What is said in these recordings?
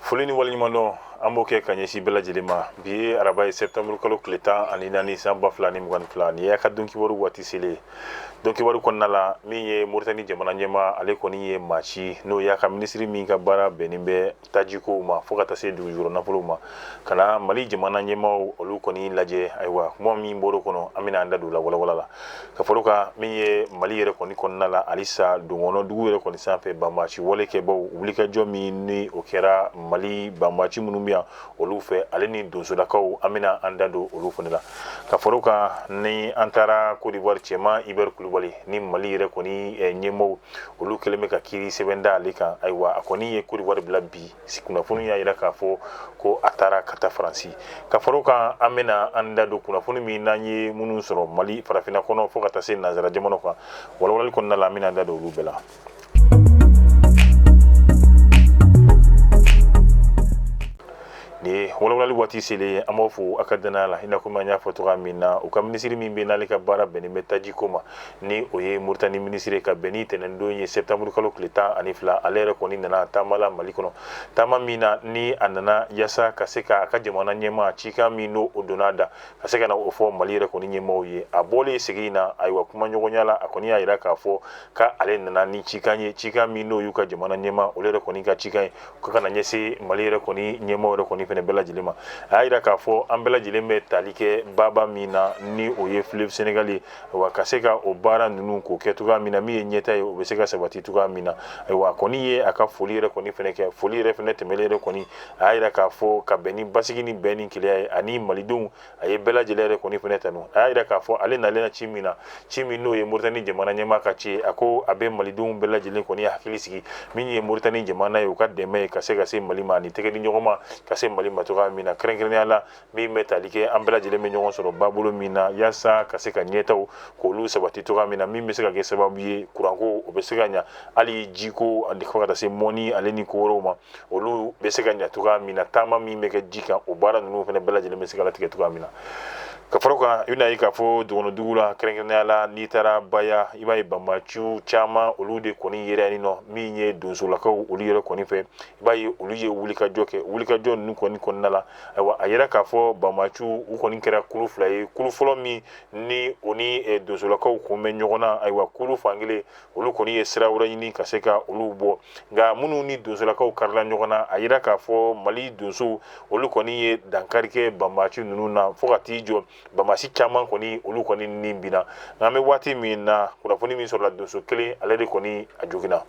foli ni waleɲumandɔn an b'o kɛ ka ɲɛsin bɛɛ lajɛlen ma bi ye araba ye sɛtanburu kalo tile tan ani naani san ba fila ni mugan ni fila ni y'a ka donkibaru waati selen donkibaru kɔnɔna la min ye moritani jamana ɲɛmaa ale kɔni ye maa ci n'o y'a ka minisiri min ka baara bɛnnen bɛ tajiko ma fo ka taa se dugujukɔrɔ nafolo ma ka na mali jamana ɲɛmaaw olu kɔni lajɛ ayiwa kuma min bɔr'o kɔnɔ an bɛna an da don a walawala la ka far'o kan min ye mali yɛrɛ kɔni kɔnɔna la halisa dɔgɔnɔ dugu yɛrɛ kɔni sanfɛ banbaci walekɛbaw wulikajɔ min ni o kɛra mali banbaci minnu bɛ yan olu fɛ ale ni donsolakaw an bɛna an da don olu fana la ka far'o kan ni an taara kodiwari cɛman ibɛri kulubali ni mali yɛrɛ kɔni ɲɛmaaw olu kɛlen bɛ ka kiiri sɛbɛn da ale kan ayiwa a kɔni ye kodiwari bila bi kunnafoni y'a jira k'a fɔ ko a taara ka taa faransi ka far'o kan an bɛna an da don kunnafoni min n'an ye minnu sɔrɔ mali farafinna kɔnɔ fo ka taa se nansara jamana kan walawalali kɔnɔna la an bɛna an da don olu bɛɛ la ni walawalali waati selen an b'a fo a ka dannaya la i n'a komi an y'a fɔ cogoya min na u ka minisiri min bɛ n'ale ka baara bɛnnen bɛ tajiko ma ni o ye moritani minisiri ka bɛn ni tɛnɛndon ye sɛtanburu kalo tile tan ani fila ale yɛrɛ kɔni nana taama la mali kɔnɔ taama min na ni a nana yaasa ka se ka a ka jamana ɲɛmaa cikan min don o donna da ka se ka na o fɔ mali yɛrɛ kɔni ɲɛmaaw ye a bɔlen sigi in na ayiwa kumaɲɔgɔnya la a kɔni y'a jira k'a fɔ ko ale nana ni cikan ye cikan min n'o y'u ka jamana ɲɛmaa olu yɛrɛ kɔni ka cikan ye ko ka na ɲɛsin mali yɛrɛ kɔni ɲɛmaaw yɛrɛ kɔni fana bɛɛ lajɛlen ma a y'a jira k'a fɔ an bɛɛ lajɛlen bɛ tali kɛ baba min na ni o ye fleuve senegali ye wa ka se ka o baara ninnu k'o kɛ cogoya min na min ye ɲɛtaa ye o bɛ se ka sabati cogoya min na ayiwa a kɔni ye a ka foli yɛrɛ kɔni fana kɛ foli yɛrɛ fana tɛmɛlen yɛrɛ kɔni a y'a yira k'a fɔ ka bɛn ni basigi ni bɛn ni kelenya ye ani malidenw a ye bɛɛ lajɛlen yɛrɛ kɔni fana tanu a y'a yira k'a fɔ ale nalen na ci min na ci min n'o ye moritani jamana ɲɛmaa ka ci ye a ko a bɛ malidenw bɛɛ lajɛlen kɔni hakili sigi min ye moritani jamana ye u ka dɛmɛ ye ka se ka se mali ma ani tɛgɛ di ɲɔgɔn ma ka se mali ma cogoya min na kɛrɛnkɛrɛnnenya la min bɛ tali kɛ an bɛɛ lajɛlen bɛ ɲɔgɔn sɔrɔ babolo min na yaasa ka se ka ɲɛtaaw k'olu sabati cogoya min na min bɛ se ka kɛ sababu ye kuranko o bɛ se ka ɲa hali jiko ani fo ka taa se mɔnni ale ni ko wɛrɛw ma olu bɛ se ka ɲa cogoya min na taama min bɛ kɛ ji kan o baara ninnu fana bɛɛ lajɛlen bɛ se ka latigɛ cogoya min na ka fara kan i bɛna ye k'a fɔ dɔgɔnɔ dugu la kɛrɛnkɛrɛnnenya la n'i taara baya i b'a ye banbaciw caman olu de kɔni yɛrɛ ni nɔ min ye donsolakaw olu yɛrɛ kɔni fɛ i b'a ye olu ye wulikajɔ kɛ wulikajɔ ninnu kɔni kɔnɔna la ayiwa a yira k'a fɔ banbaciw u kɔni kɛra kulu fila ye kulu fɔlɔ min ni o ni eh, donsolakaw kun bɛ ɲɔgɔn na ayiwa kulu fankelen olu kɔni ye sira wɛrɛ ɲini ka se ka olu bɔ nka minnu ni donsolakaw karila ɲɔgɔn na a yira k'a fɔ mali donsow olu kɔni ye dankari kɛ banbaci ninnu na fo ka t'i jɔ banbaci caman kɔni olu kɔni ni binna nka an bɛ waati min na kunnafoni min sɔrɔla donso kelen ale de kɔni a joginna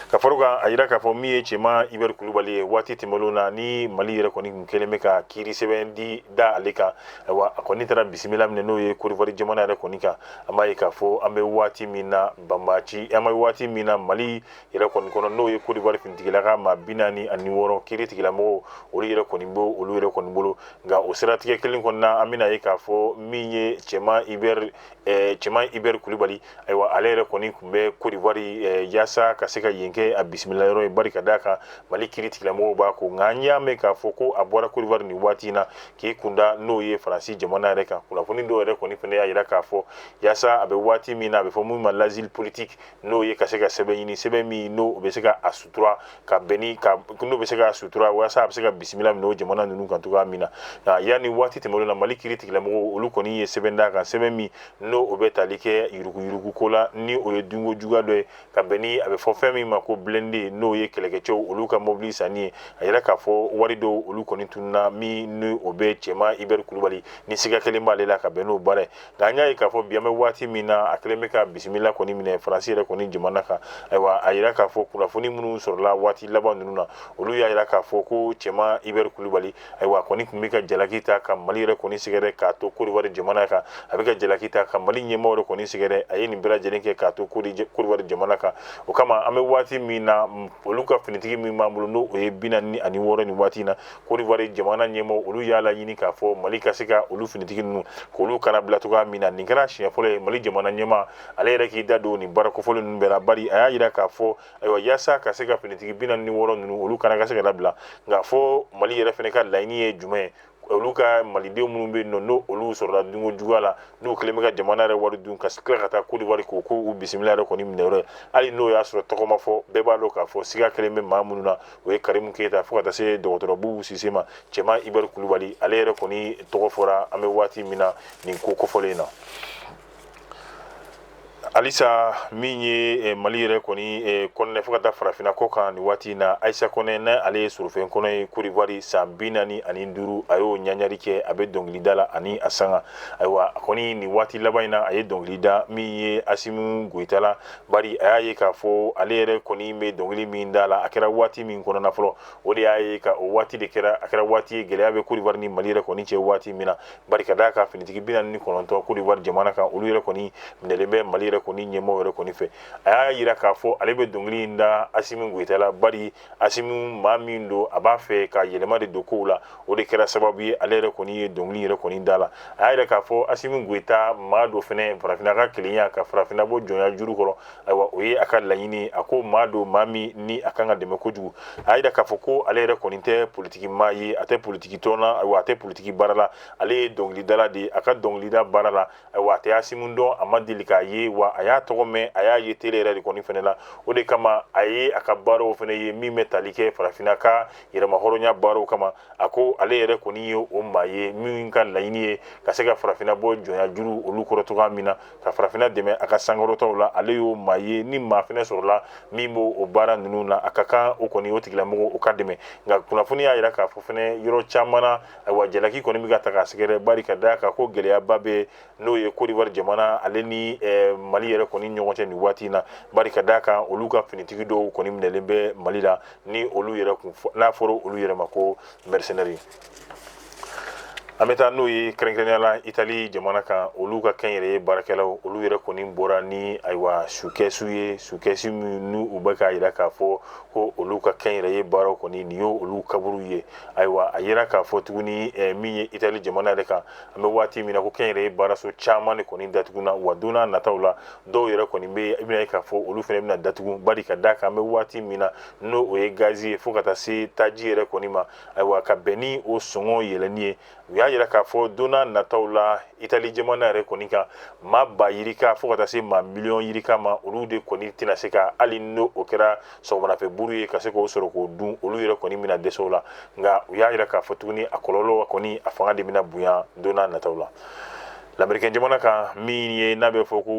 ka far'o kan a yira k'a fɔ min ye cɛman ibɛri kulubali ye waati tɛmɛnlenw na ni mali yɛrɛ kɔni tun kɛlen bɛ ka kiiri sɛbɛn de da ale kan ayiwa a kɔni taara bisimila minɛ n'o ye kodiwari jamana yɛrɛ kɔni kan an b'a ye k'a fɔ an bɛ waati min na banbaci an bɛ waati min na mali yɛrɛ kɔni kɔnɔ n'o ye Côte d'Ivoire finitigilaka maa bi naani ani wɔɔrɔ kiiri tigilamɔgɔw olu yɛrɛ kɔni b'o olu yɛrɛ kɔni bolo nka o siratigɛ kelen kɔni na an bɛn'a ye k'a fɔ min ye cɛman Hubert eh, cɛman Hubert Kulibali ayiwa ale yɛrɛ kɔni tun bɛ Côte d'Ivoire eh, yaasa ka se ka yen kɛ a bisimila yɔrɔ ye bari ka d'a kan Mali kiiri tigilamɔgɔw b'a kɔ nka an y'a mɛn k'a fɔ ko a bɔra Côte d'Ivoire nin waati in na k'i kunda n'o ye Faransi jamana yɛrɛ kan kunnafoni dɔw yɛrɛ kɔni fana y'a jira k'a fɔ yaasa a bɛ waati min na a bɛ fɔ min ma l'asile politique n'o ye ka se ka sɛbɛn ɲini sɛbɛn min n'o bɛ se ka a sutura ka bɛn ni ka n'o bɛ se k'a sutura walasa a bɛ se ka bisimila minɛ o jamana ninnu kan cogoya min na yanni waati tɛmɛnlen na mali kiiri tigilamɔgɔw olu kɔni ye sɛbɛn d'a kan sɛbɛn min n'o o bɛ tali kɛ yuruguyurugu ko la ni o ye dunko juguya dɔ ye ka bɛn ni a bɛ fɔ fɛn min ma ko blende n'o ye kɛlɛkɛcɛw olu ka mɔbili sanni ye a yera k'a fɔ wari dɔw olu kɔni tununa min ni o bɛ cɛman ibɛri kulubali ni siga kɛlen b'ale la ka bɛn n'o baara ye nka an y'a ye k'a fɔ bi an bɛ waati min na a kɛlen bɛ ka bisimila kɔni minɛ faransi yɛrɛ kɔni jamana kan ayiwa a yira k'a fɔ kunnafoni minnu sɔrɔla waati laban ninnu na olu y'a yira k'a fɔ ko cɛman ibɛri kulubali ayiwa a kɔni tun bɛ ka jalaki ta ka mali yɛrɛ kɔni sɛgɛrɛ k'a to kodiwari jamana kan a bɛ ka jalaki ta ka mali ɲɛmaaw yɛrɛ kɔni sɛgɛrɛ a ye nin bɛɛ lajɛlen kɛ k'a to kodiwari jamana kan o kama an bɛ waati min na olu ka finitigi min b'an bolo n'o o ye bi naani ani wɔɔrɔ nin waati in na Kodiwari jamana ɲɛmaaw olu y'a laɲini k'a fɔ mali ka se ka olu finitigi ninnu k'olu kannabila cogo min na nin kɛra siɲɛ fɔlɔ ye mali jamana ɲɛmaa ale yɛrɛ k'i da don nin baara kofɔlen ninnu bɛɛ la bari a y'a jira k'a fɔ ayiwa yaasa ka se ka finitigi bi naani ni wɔɔrɔ ninnu olu kana ka se ka labila nka fɔ mali yɛrɛ fana ka laɲini ye jumɛn ye olu ka malidenw minnu bɛ yen n'olu sɔrɔla dunko juguya la n'u kɛlen bɛ ka jamana yɛrɛ wari dun ka tila ka taa kodiwari ko k'u bisimila yɛrɛ kɔni minɛ hali n'o y'a sɔrɔ tɔgɔ ma fɔ bɛɛ b'a dɔn k'a fɔ siga kɛlen bɛ maa minnu na o ye karimu keyita fo ka taa se dɔgɔtɔrɔ bubu sise ma cɛman ibɛri kulubali ale yɛrɛ kɔni tɔgɔ fɔra an bɛ waati min na nin ko kofɔlen na halisa min ye eh, mali yɛrɛ kɔni eh, kɔnɔ fo ka taa farafinna kɔ kan nin waati na ayisa kɔnɛ na ale ye sorofe kɔnɔ ye kodiwari san bi naani ani duuru a y'o ɲagari kɛ a bɛ dɔnkilida la ani a sanga ayiwa a kɔni nin waati laban in na a ye dɔnkili da min ye asimu goyita la Bari a y'a ye k'a fɔ ale yɛrɛ kɔni bɛ dɔnkili min da la a kɛra waati min kɔnɔna fɔlɔ o de y'a ye ka o waati de kɛra a kɛra waati ye gɛlɛya bɛ Kodiwari ni Mali yɛrɛ kɔni cɛ waati min na bari ka d'a kan finitigi bi naani ni kɔnɔntɔn Kodiwari jamana kan olu yɛrɛ kɔni minɛlen bɛ Mali yɛrɛ kɔni ɲɛmɔgɔ yɛrɛ kɔni fɛ a y'a yira k'a fɔ ale bɛ dɔnkili in da Asimi Goyita la bari asimu maa min don a b'a fɛ ka yɛlɛma de don kow la o de kɛra sababu ye ale yɛrɛ kɔni ye dɔnkili yɛrɛ kɔni da la a y'a yira k'a fɔ asimu goyita maa don fɛnɛ farafinna ka kelenya ka farafinna bɔ jɔnya juru kɔrɔ ayiwa o ye a ka laɲini a ko maa don maa min ni a kan ka dɛmɛ kojugu a y'a yira k'a fɔ ko ale yɛrɛ kɔni tɛ politiki maa ye a tɛ politiki tɔn na ayiwa a tɛ politiki baara la ale ye dɔnkilidala de ye a ka dɔnkilida baara la wa a tɛ asimu dɔn a ma deli k'a ye wa a y'a tɔgɔ mɛn a y'a ye tele yɛrɛ de kɔni fɛnɛ la o de kama a ye a ka baaraw fɛnɛ ye min bɛ tali kɛ farafinna ka yɛrɛmahɔrɔnya baaraw kama a ko ale yɛrɛ kɔni ye o maa ye min ka laɲini ye ka se ka farafinna bɔ jɔnya juru olu kɔrɔ cogoya min na ka farafinna dɛmɛ a ka sankɔrɔtaw la ale y'o maa ye ni maa fɛnɛ sɔrɔla min b'o o baara ninnu na a ka kan o kɔni o tigilamɔgɔ o ka dɛmɛ nka kunnafoni y'a yira k'a fɔ fɛnɛ yɔrɔ caman na ayiwa jalaki kɔni bɛ ka taa k'a sɛgɛrɛ bari ka da kan ko gɛlɛyaba bɛ n'o ye côte d'ivoire jamana ale ni eh, mali yɛrɛ kɔni ɲɔgɔn cɛ nin waati in na bari ka da kan olu ka finitigi dɔw kɔni minɛlen bɛ mali la ni olu yɛrɛ kun n'a fɔra olu yɛrɛ ma ko mercenaires an bɛ taa n'o ye kɛrɛnkɛrɛnya la itali jamana kan olu ka kɛnyɛrɛye baarakɛlaw olu yɛrɛ kɔni bɔra ni ayiwa sukɛsu ye sukɛsu minnu u bɛ k'a yira k'a fɔ ko olu ka kɛnyɛrɛye baaraw kɔni nin y'o olu kaburu ye ayiwa a yira k'a fɔ tuguni min ye itali jamana yɛrɛ kan an bɛ waati min na ko kɛnyɛrɛye baaraso caman de kɔni datuguna wa donna nataw la dɔw yɛrɛ kɔni bɛ i bɛn'a ye k'a fɔ olu fɛnɛ bɛna datugu bari ka da kan an bɛ waati min na n'o o ye gazi ye fo ka taa se taji yɛrɛ kɔni ma ayiwa ka bɛn ni o sɔngɔ yɛlɛni ye u y'a yira k'a fɔ donna nataw la itali jamana yɛrɛ kɔni kan maa ba yirika fo ka taa se maa miliyɔn yirika ma olu de kɔni tɛna se ka hali n'o o kɛra sɔgɔmadafɛ buru ye ka se k'o sɔrɔ k'o dun olu yɛrɛ kɔni bɛna dɛsɛ o la nka u y'a yira k'a fɔ tuguni a kɔlɔlɔ kɔni a fanga de bɛna bonya donna nataw la lamerikɛn jamana kan min ye n'a bɛ fɔ ko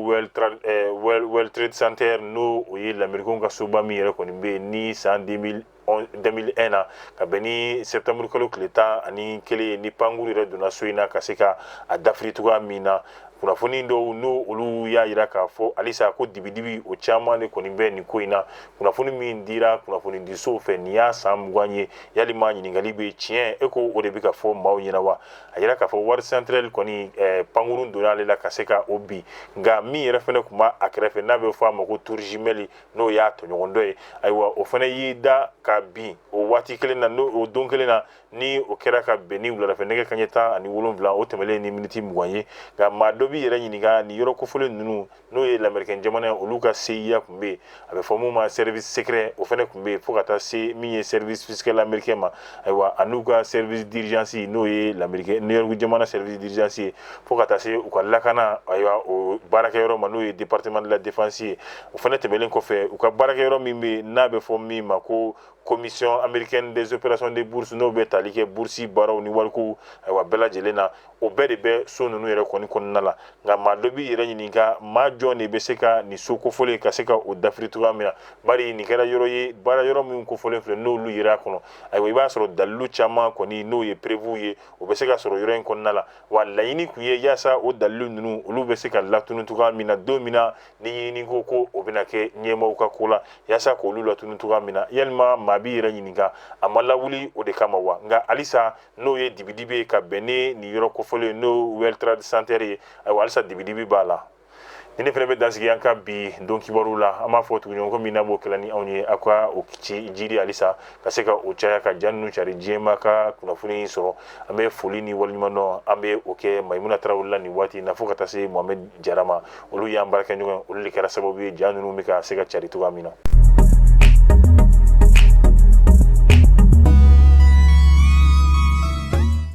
world trade center n'o o ye lamerikenw ka soba min yɛrɛ kɔni bɛ yen ni san 2000 2001 na ka bɛn ni septembre kalo tile tan ani kelen ye ni pankuru yɛrɛ donna so in na ka se ka a dafiri cogoya min na kunnafoni dɔw n'o olu y'a yira k'a fɔ halisa ko dibidibi o caman de kɔni bɛ nin ko in na kunnafoni min dira kunnafoni disow fɛ nin y'a san mugan ye yalima ɲininkali bɛ tiɲɛ e ko o de bɛ ka fɔ maaw ɲɛna wa a yira k'a fɔ wari central kɔni eh, pankurun donna ale la ka se ka o bin nka min yɛrɛ fɛnɛ kun b'a a kɛrɛfɛ n'a bɛ fɔ a ma ko tour jumelle n'o y'a tɔɲɔgɔn dɔ ye ayiwa o fɛnɛ y'i da ka bin o waati kelen na n'o o don kelen na ni o kɛra ka bɛn ni wuladafɛ nɛgɛ kaɲɛ tan ani wolonwula o tɛmɛlen ni miniti mugan ye nka maa dɔ b'i yɛrɛ ɲininka ni yɔrɔ kofɔlen ninnu n'o ye lamɛrikɛn jamana olu ka cia kun bɛ yen a bɛ fɔ mun ma service secret o fɛnɛ kun bɛ yen fo ka taa se min ye service fiscal américain ma ayiwa an'u ka service d'urgence n'o ye lamɛrikɛn new york jamana service d'urgence ye fo ka taa se u ka lakana ayiwa o baarakɛyɔrɔ ma n'o ye département de la défense ye o fɛnɛ tɛmɛlen kɔfɛ u ka baarakɛyɔrɔ min bɛ n'a bɛ fɔ min ma ko commission américaine des opérations de bourse n'o bɛ tali kɛ bourse baaraw ni wariko ayiwa bɛɛ lajɛlen na o bɛɛ de bɛ so ninnu yɛrɛ kɔni kɔnɔna la nka maa dɔ b'i yɛrɛ ɲininka maa jɔn de bɛ se ka nin so kofɔlen ka se ka o dafiri cogoya min na bari nin kɛra yɔrɔ ye baara yɔrɔ min kofɔlen filɛ n'olu yera a kɔnɔ ayiwa i b'a sɔrɔ dalilu caman kɔni n'o ye preuves ye o bɛ se ka sɔrɔ yɔrɔ in kɔnɔna la wa laɲini kun ye yaasa o dalilu ninnu olu bɛ se ka latunu cogoya min na don min na ni ɲinini ko o bɛna kɛ ɲɛmaaw ka ko la yaasa k'olu latunu cogoya min na yalima maa b'i yɛrɛ ɲininka a ma lawuli o de kama wa nka halisa n'o ye dibidibi ye ka bɛn ni nin yɔrɔ kofɔlen ye n'o world trade center ye ayiwa halisa dibidibi b'a la ni ne fɛnɛ bɛ dansigi an ka bi don kibaru la an b'a fɔ tuguɲɔgɔnko min na b'o kɛla ni anw ye aw k'aw cɛsiri halisa ka se ka o caya ka ja ninnu cari diɲɛ maa ka kunnafoni sɔrɔ an bɛ foli ni waleɲumandɔn an bɛ o kɛ mayimuna tarawele la nin waati na fo ka taa se mohamed jara ma olu y'an baarakɛɲɔgɔn ye olu de kɛra sababu ye ja ninnu bɛ ka se ka cari cogoya min na